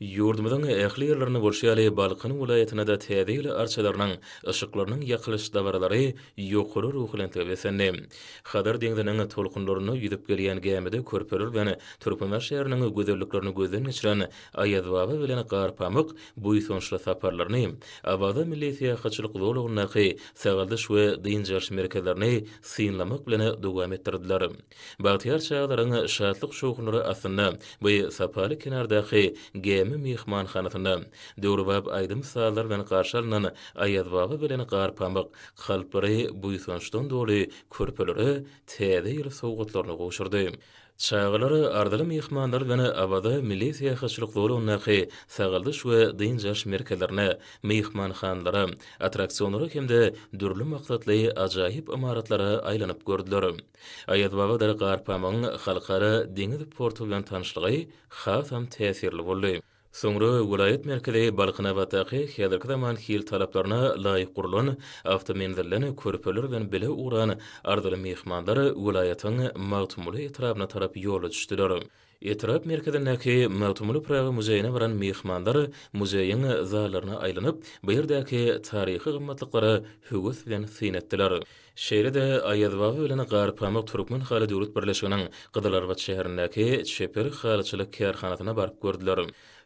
Ýurdumyzyň ähli ýerlerinde bolşy ýaly, Balkan welaýatynda-da Täze ýyl arçalarynyň, yşyklarynyň ýakylyş dabaralary ýokary ruhubelentlige beslendi. Hazar deňziniň tolkunlarynda ýüzüp gelýän gämide körpeler bilen Türkmenibaş şäheriniň gözelliklerini gözden geçiren Aýazbaba bilen Garpamyk buýsançly saparlaryny, Awaza milli syýahatçylyk zolagyndaky sagaldyş we dynç alyş merkezlerini synlamak bilen dowam etdirdiler. Bagtyýar çagalaryň şatlyk-şowhunlary astynda bu sapaly kenardaky Gämi myhmanhanasynda, döwrebap aýdym-sazlar bilen garşy alnan Aýazbaba bilen Garpamyk kalplary buýsançdan doly körpelere Täze ýyl sowgatlaryny gowşurdy. Çagalar arzyly myhmanlar bilen Awaza milli syýahatçylyk zolagyndaky sagaldyş we dynç alyş merkezlerine, myhmanhanalara, attraksionlara hem-de dürli maksatly ajaýyp ymaratlara aýlanyp gördüler. Aýazbaba-Dara Garpamygyň halkara deňiz porty bilen tanyşlygy hasam täsirli boldy. Soňra welaýat merkezi Balkanabatdaky häzirki zaman hil talaplaryna laýyk gurlan awtomenzilden körpeler bilen bile ugran arzyly myhmanlar welaýatyň Magtymguly etrabyna tarap ýola düşdüler. Etrap merkezindäki Magtymguly Pyragy muzeýine baran myhmanlar muzeýiň zallaryna aýlanyp, bu ýerdäki taryhy gymmatlyklara höwes bilen syn etdiler. Şeýle-de Aýazbaba bilen Garpamyk türkmen haly döwlet birleşiginiň Gyzylarbat şäherindäki Çeper halyçylyk kärhanasyna baryp gördüler.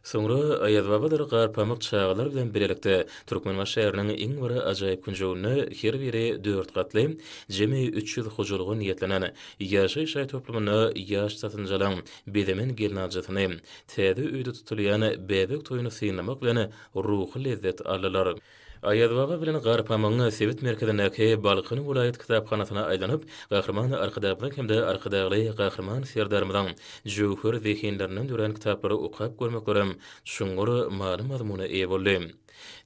Soňra Aýazbabadyr Garpamyk çagalar bilen birlikde Türkmenbaşy şäheriniň iň bir ajaýyp künjeginde her biri dört gatly, jemi üç ýüz hojalyga niýetlenen ýaşaýyş jaý toplumynda ýaş satynjalyň bezemen gelnaljysyny, täze öýde tutulýan bäbek toýuny synlamak bilen ruhy lezzet aldylar. Aýazbaba bilen Garpamyň sebit merkezindäki Balkan welaýat kitaphanasyna aýlanyp, Gahryman Arkadagymyzyň hem-de Arkadagly Gahryman Serdarymyzyň jöwher zehinlerinden dörän kitaplary okap görmeklerem çuňňur many-mazmuna eýe boldy.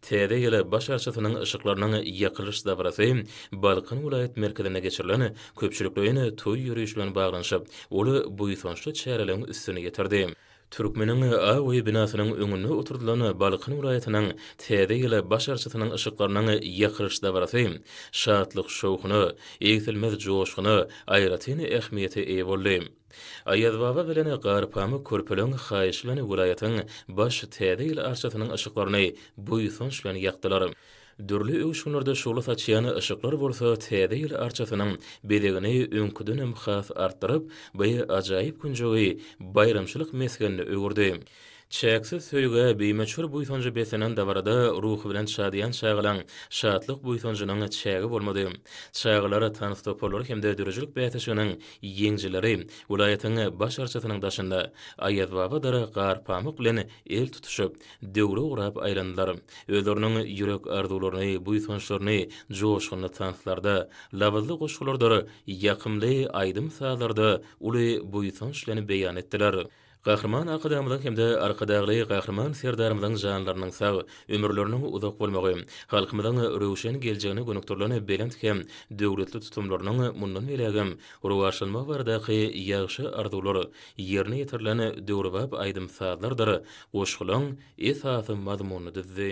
Täze ýyl baş arçasynyň yşyklarynyň ýakylyş dabarasy Balkan welaýat merkezinde geçirilen köpçülikleýin toý ýörişi bilen baglanyşyp, ol buýsançly çäreleň üstüni ýetirdi. Türkmeniň awy binasynyň öňünde oturdylan Balkan welaýatynyň Täze ýyl baş arçasynyň yşyklarynyň ýakylyş dabarasy şatlyk-şowhuna, egsilmez joşguna, aýratyn ähmiýete eýe boldy. Aýazbaba bilen Garpamyk körpeleň haýyşy bilen welaýatyň baş Täze ýyl arçasynyň yşyklaryny buýsanç bilen ýakdylar. Dürli öwüşginlerde şugla saçýan yşyklar bolsa Täze ýyl arçasynyň bezegini öňküdenem has artdyryp, bu ajaýyp künjegi baýramçylyk mesgenine öwürdi. Çäksiz söýgä, bimöçber buýsanja beslenen dabarada ruhubelent şadyýan çagalaň şatlyk-buýsanjynyň çägi bolmady. Çagalar tans toparlary hem-de döredijilik bäsleşiginiň ýeňijileri welaýatyň Baş arçasynyň daşynda Aýazbaba dara gar pamyk bilen el tutuşyp, döwre urap aýlandylar. Özleriniň ýürek arzuwlaryny, buýsançlaryny joşgunly tanslarda, labyzly goşgulardyr ýakymly aýdym-sazlarda uly buýsanç bilen beýan etdiler. Gahryman Arkadagymyzyň hem-de Arkadagly Gahryman Serdarymyzyň janlarynyň sag, ömürleriniň uzak bolmagy, halkymyzyň röwşen geljegine gönükdirilen belent hem döwletli tutumlarynyň mundan beýlägem rowaçlanmagy baradaky ýagşy arzuwlar ýerine ýetirilen döwrebap aýdym-sazlardyr goşgulaň esasy mazmunyny düzdi.